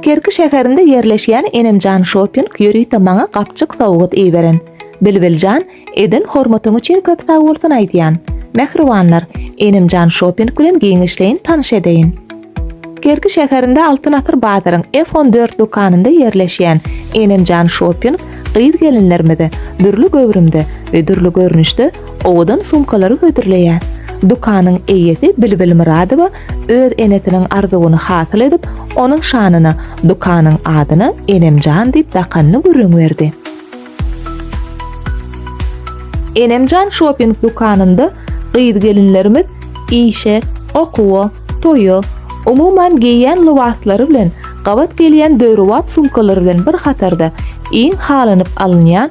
Kerki şäherinde ýerleşýän Enemjan Şoping ýörite maňa gapjyk sowgat iberen. Bilbiljan, eden hormatyň üçin köp sag bolsun aýdýan. Mähribanlar, Enemjan Şoping bilen giňişleýin tanyş edeýin. Kerki şäherinde Altyn asyr bazaryň F on dört dükanynda ýerleşýän Enemjan Şoping gyz-gelinlerimize dürli göwrümde we dürli görnüşde owadan sumkalary hödürleýär. Dükanyň eýesi Bilbil Myradowa Öz enesiniň arzuwyny hasyl edip, onuň şanyna dükanyň adyna Enemjan diýip dakanyny gürrüň berdi. Enemjan şoping dükanynda gyz-gelinlerimiz işe, okuwa, toýa, umuman geýýän lybaslary bilen gabat gelýän döwrebap sumkalary bilen bir hatarda iň halanyp alynýan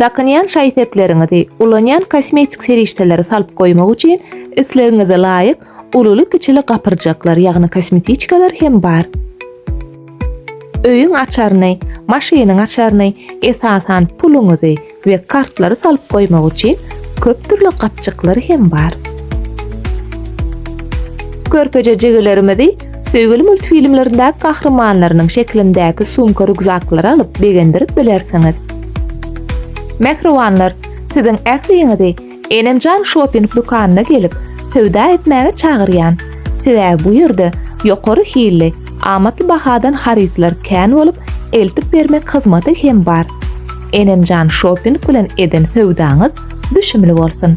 Dakynýan şaý-sepleriňizi, ulanýan kosmetik serişdeleri salyp goýmak üçin islegiňize laýyk ululy-kiçili gapyrjaklar, ýagny kosmetiçkalar hem bar. Öýüň açaryny, maşynyň açaryny, esasan, puluňyzy we kartlary salyp goýmak üçin köp dürli gapjyklar hem bar. Körpeje jigilerimizi Söýgüli multfilmlerindäki gahrymanlarynyň şeklindäki sumka-rukzaklary alyp begendirip bilersiňiz. Mähribanlar, siziň ähliňizi Enemjan şoping dükanyna gelip, söwda etmäge çagyrýan. Sebäbi bu ýerde ýokary hilli, amatly bahadan harytlar kän bolup, eltip bermek hyzmaty hem bar. Enemjan şoping bilen eden söwdaňyz düşümli bolsun!